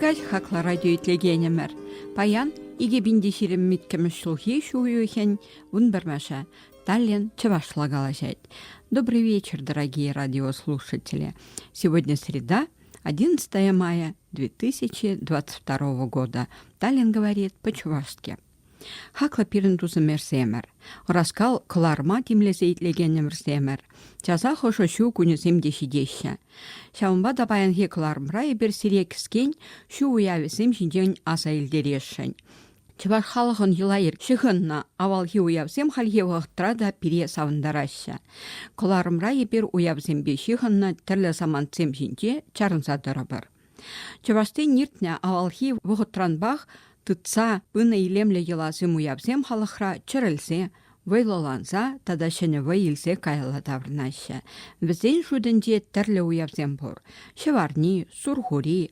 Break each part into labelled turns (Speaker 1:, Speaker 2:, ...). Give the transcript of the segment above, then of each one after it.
Speaker 1: Ӳрӗкать хакла радио итлекенӗмӗр. Паян икӗ пин те ҫирӗм иккӗмӗш ҫулхи ҫу уйӑхӗн вун пӗрмӗшӗ. Таллин чӑвашла калаҫать. Добрый вечер, дорогие радиослушатели. Сегодня среда, 11 мая 2022 года, Таллин говорит по-чувашски. Хаклӑ пирӗн тусӑмӑрсемӗр, ӑраскал кӑларма тимлесе итлекенӗмӗрсемӗр, часах ӑшӑ ҫу кунӗсем те ҫитеҫҫӗ. Ҫавӑнпа та паянхи кӑларӑмра эпир сире кӗскен ҫу уявӗсем ҫинчен аса илтересшӗн. Чӑваш халӑхӑн йӑла-йӗр ҫыхӑннӑ авалхи уявсем хальхи вӑхӑтра та пире савӑнтараҫҫӗ. Кӑларӑмра эпир уявсемпе ҫыхӑннӑ тӗрлӗ самантсем ҫинче чарӑнса тӑрӑпӑр. Чӑвашсен иртнӗ авалхи вӑхӑтранпах тытса пынӑ илемлӗ йӑласем уявсем халӑхра чӗрӗлсе, вӑйлӑланса тата ҫӗнӗ вӑй илсе каялла таврӑнаҫҫӗ. Вӗсен шутӗнче тӗрлӗ уявсем пур. Ҫӑварни, Сурхури,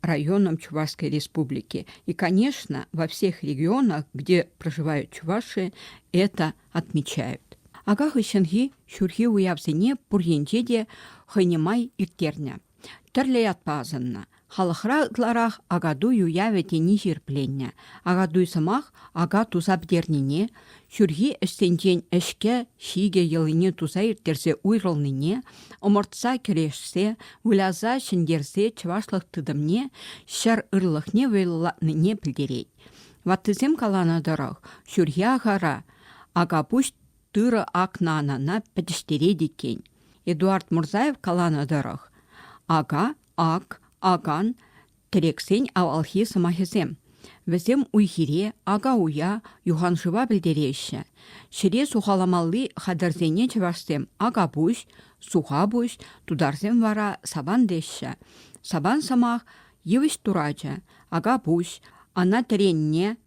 Speaker 1: районом Чувашской Республики. И, конечно, во всех регионах, где проживают чуваши, это отмечают. Ака хыҫҫӑнхи ҫурхи уявсене пур енче те хӑйне май ирттернӗ. Тӗрлӗ ятпа асӑннӑ. Халӑхра ытларах акатуй уявӗ тени ҫирӗпленнӗ. Акатуй сӑмах ака туса пӗтернине, ҫурхи ӗҫсенчен ӗҫке ҫикӗ йӑлине туса ирттерсе уйрӑлнине, ӑмӑртса кӗрешсе, выляса ҫӗнтерсе чӑвашлӑх тытӑмне, ҫӗр ырлӑхне вӑйлӑлатнине пӗлтерет. Ваттисем каланӑ тӑрӑх, ҫурхи ахара Акапуҫ тырӑ акнанана пӗтӗҫтерет иккен. Эдуард Мурзаев каланӑ тӑрӑх, ака, ак, акан, Тӗрексен авалхи сӑмахӗсем. Вӗсем уй-хире, ака-уя, юханшыва пӗлтереҫҫӗ. Ҫӗре сухаламалли хатӗрсене чӑвашсем акапуҫ, сухапуҫ, тутарсем вара сабан теҫҫӗ. Сабан сӑмах йывӑҫ турачӗ, акапуҫ, ана тӗренне,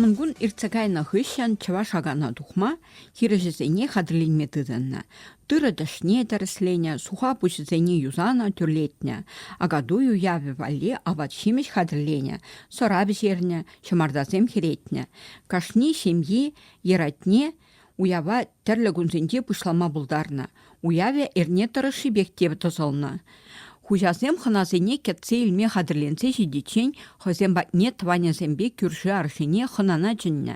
Speaker 1: Мӑнкун иртсе кайнӑ хыҫҫӑн чӑваш акана тухма хирӗҫӗсене хатӗрленме тытӑннӑ. Тырӑ тӗшне тӗрӗсленӗ, суха пуҫӗсене юсанӑ, тӳрлетнӗ. Акатуй уявӗ валли апат-ҫимӗҫ хатӗрленӗ, сӑра пӗҫернӗ, ҫӑмартасем хӗретнӗ. Кашни ҫемйи йӗратне Уява тӗрлӗ кунсенче пуҫлама пултарнӑ. Уявӗ эрне тӑрӑшшипех те тӑсӑлнӑ. Хуҫасем хӑнасене кӗтсе илме хатӗрленсе ҫитиччен хӑйсем патне тӑванӗсемпе кӳрши аршине хӑнана чӗннӗ.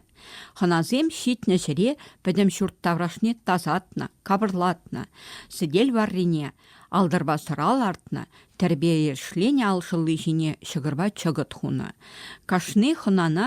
Speaker 1: Хӑнасем ҫитнӗ ҫӗре пӗтӗм ҫурт таврашне тасатнӑ, капӑрлатнӑ, сӗтел варрине алтӑрпа лартнӑ, тӗрпе-ешленӗ алшӑлли ҫине ҫӑкӑрпа чӑкӑт хунӑ. Кашни хӑнана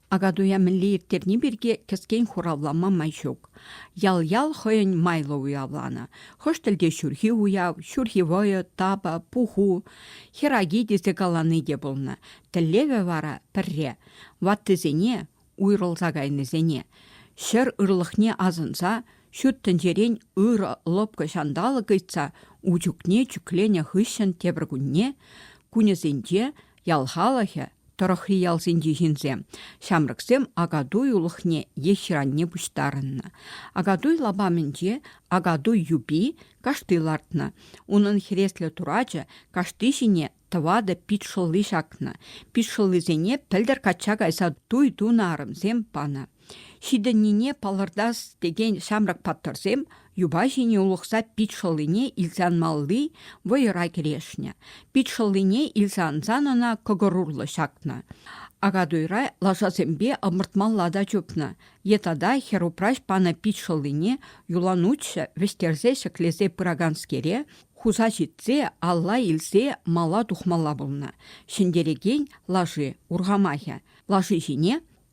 Speaker 1: Акатуя мӗнле ирттерни пирки кӗскен хуравлама май ҫук. Ял-ял хӑйӗн майлӑ уявланӑ. Хӑш тӗлте ҫурхи уяв, ҫурхи вӑйӑ, тапа, пуху, хӗраки тесе калани те пулнӑ. Тӗллевӗ вара пӗрре – ваттисене, уйрӑлса кайнисене, ҫӗр ырлӑхне асӑнса ҫут тӗнчерен ырӑ лӑпкӑ ҫанталӑк ыйтса ун чухне чӳкленӗ хыҫҫӑн тепӗр кунне, кунӗсенче Ял халӑхӗ, тӑрӑхри ялсенчи ҫынсем, ҫамрӑксем Акатуй улӑхне е ҫыранне пуҫтарӑннӑ. Акатуй лапамӗнче Акатуй юпи кашти лартнӑ. Унӑн хӗреслӗ турачӗ кашти ҫине тӑватӑ пит шӑлли ҫакнӑ. Пит шӑллисене пӗлтӗр качча кайса туй тунӑ арӑмсем панӑ. Ҫитӗннине палӑртас текен ҫамрӑк паттӑрсем юпа ҫине улӑхса пит шӑллине илсе анмалли вӑйӑра кӗрешнӗ. Пит шӑллине илсе ансан ӑна кӑкӑр урлӑ ҫакнӑ. Акатуйра лашасемпе ӑмӑртмалла та чупнӑ. Е тата хӗрупраҫ панӑ пит шӑллине юланутҫӑ вӗҫтерсе ҫӗклесе пыраканскере хуса ҫитсе алла илсе мала тухмалла пулнӑ. Ҫӗнтерекен лаши урхамахӗ лаши ҫине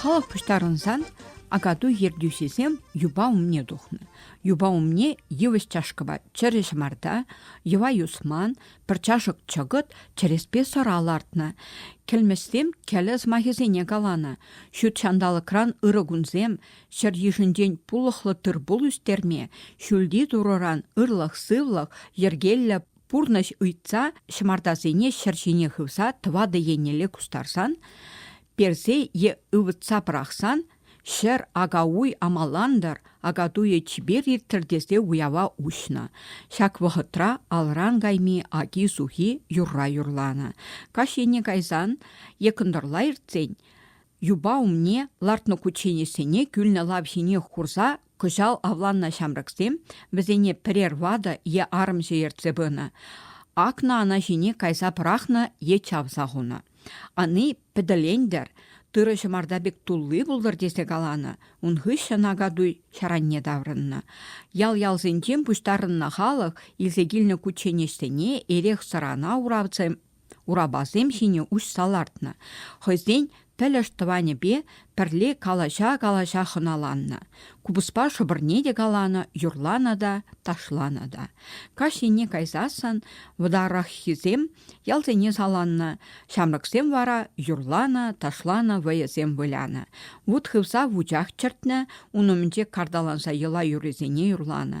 Speaker 1: Халӑх пуҫтарӑнсан акатуй ертӳҫисем юпа умне тухнӑ. Юпа умне йывӑҫ чашкӑпа чӗрӗ ҫӑмарта, йӑва юсман, пӗр чашӑк чӑкӑт чӗреспе сӑра лартнӑ. Кӗлмӗҫсем кӗлӗ сӑмахӗсене каланӑ. Ҫут ҫанталӑкран ырӑ кунсем, Ҫӗр йышӗнчен пулӑхлӑ тыр-пул ӳстерме ҫӳлти турӑран ырлӑх-сывлӑх, йӗркеллӗ пурнӑҫ ыйтса ҫӑмартасене ҫӗр ҫине хывса тӑватӑ еннелле кустарсан, персе е ывӑтса пӑрахсан, ҫӗр ака-уй амалантӑр, акатуйӗ чипер ирттӗр тесе уява уҫнӑ. Ҫак вӑхӑтра алран кайми аки-сухи юрра юрланӑ. Каҫ ене кайсан е кӑнтӑрла иртсен юпа умне лартнӑ кучченеҫсене кӳлнӗ лав ҫинех хурса кӑҫал авланнӑ ҫамрӑксем вӗсене пӗрер ватӑ е арӑмҫӑ ертсе пынӑ, акнӑ ана ҫине кайса пӑрахнӑ е чавса хунӑ. Ани пӗтӗлен-тӗр, тырӑ ҫӑмарта пек тулли пултӑр тесе каланӑ, ун хыҫҫӑн акатуй ҫаранне таврӑннӑ. Ял-ялсенчен пуҫтарӑннӑ халӑх илсе килнӗ кучченеҫсене эрех-сӑрана уравсем урапасем ҫине уҫса лартнӑ, хӑйсен пӗлӗш тӑванӗпе пӗрле калаҫа-калаҫа хӑналаннӑ. Купӑспа шӑпӑрне те каланӑ, юрланӑ та, ташланӑ та. Каҫ енне кайсассӑн вӑтараххисем ялсене саланнӑ, ҫамрӑксем вара юрланӑ, ташланӑ вӑйӑсем вылянӑ. Вут хывса вучах чӗртнӗ, ун умӗнче карталанса йӑла юррисене юрланӑ.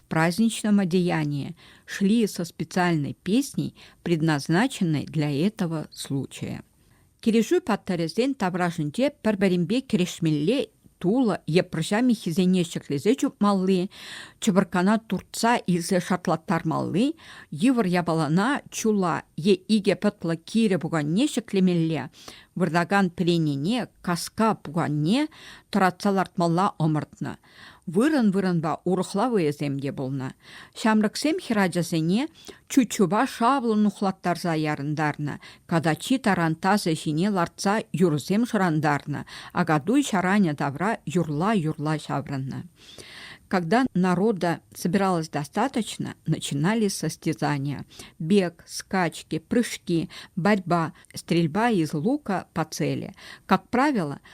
Speaker 1: праздничном одеянии шли со специальной песней, предназначенной для этого случая. Килӗшӳ паттӑрӗсен таврашӗнче пӗр-пӗринпе кӗрешмелле тулӑ е пӑрҫа миххисене ҫӗклесе чупмалли, чӑпӑркана туртса илсе шартлаттармалли, йывӑр япалана чула е икӗ пӑтлӑ кирӗ пуканне ҫӗклемелле, выртакан пӗренене, каска пуканне тӑратса лартмалла ӑмӑртнӑ – Вырӑн-вырӑнпа урӑхла вӑйӑсем те пулнӑ. Ҫамрӑксем хӗрачасене чуччупа шавлӑн нухлаттарса ярӑнтарнӑ, катачи тарантасӗ ҫине лартса юрӑсем шӑрантарнӑ, акатуй ҫаранӗ тавра юрла-юрла ҫаврӑннӑ. Когда народа собиралось достаточно, начинались состязания. Бег, скачки, прыжки, борьба, стрельба из лука по цели. Как правило,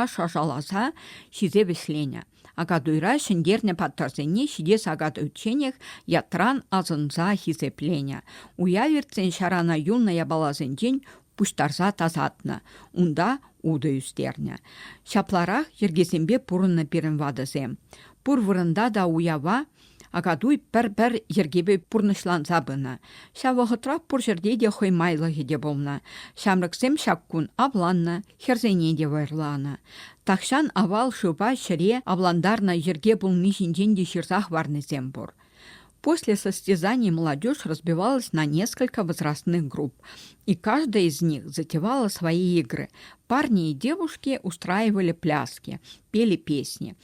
Speaker 1: аш ӑшаласа ҫисе вӗҫленӗ. Акатуйра ҫӗнтернӗ паттӑрсене ҫитес акатуйчченех ятран асӑнса хисепленӗ. Уяв иртсен ҫарана юлнӑ япаласенчен пуҫтарса тасатнӑ, унта утӑ ӳстернӗ. Ҫапларах йӗркесемпе пурӑннӑ пирӗн ватӑсем. Пур вырӑнта та уява Акатуй пӗр-пӗр йӗркепе пурнӑҫланса пынӑ. Ҫав вӑхӑтра пур ҫӗрте те хӑй майлӑхӗ те пулнӑ. Ҫамрӑксем ҫак кун авланнӑ, хӗрсене те вӑйӑрланӑ. Тахҫан авал шывпа ҫӗре авлантарнӑ йӗрке пулни ҫинчен те ҫырса хӑварнисем пур. После состязаний молодежь разбивалась на несколько возрастных групп, и каждая из них затевала свои игры. Парни и девушки устраивали пляски, пели песни –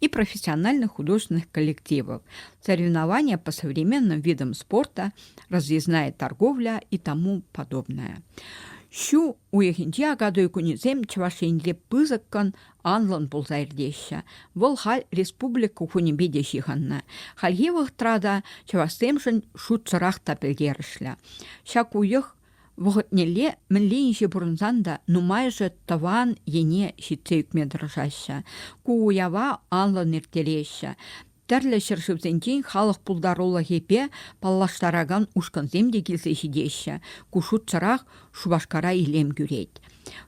Speaker 1: и профессиональных художественных коллективов. Соревнования по современным видам спорта, разъездная торговля и тому подобное. Ҫу уйӑхӗнче акатуй кунӗсем Чӑваш Енре пысӑккӑн анлӑн пулса иртеҫҫӗ. Вӑл халь республика кунӗпе те ҫыхӑннӑ. Хальхи вӑхӑтра та чӑвашсемшӗн шутсӑрах та пӗлтерӗшлӗ. Ҫак уйӑх Вӑхӑтнелле мӗнле инҫе пурӑнсан та нумайӑшӗ тӑван ене ҫитсе ӳкме тӑрӑшаҫҫӗ, ку уява анлӑн ирттереҫҫӗ. Тӗрлӗ ҫӗршывсенчен халӑх пултарулӑхӗпе паллаштаракан ушкӑнсем те килсе ҫитеҫҫӗ. Ку шутсӑрах Шупашкара илем кӳрет.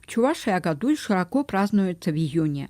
Speaker 1: Чувашия Акатуй широко празднуется в июне.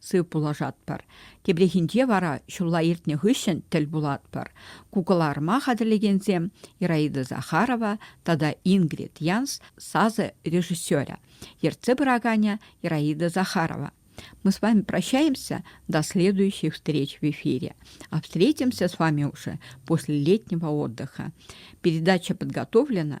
Speaker 1: сыв пулӑшатпӑр. Тепрехинче вара ҫулла иртнӗ хыҫҫӑн тӗл пулатпӑр. Ку кӑларӑма хатӗрлекенсем Ираида Захарова тата Ингрид Янс сасӑ режиссерӗ, ертсе пыраканӗ Ираида Захарова. Мы с вами прощаемся до следующей встречи в эфире. А встретимся с вами уже после летнего отдыха. Передача подготовлена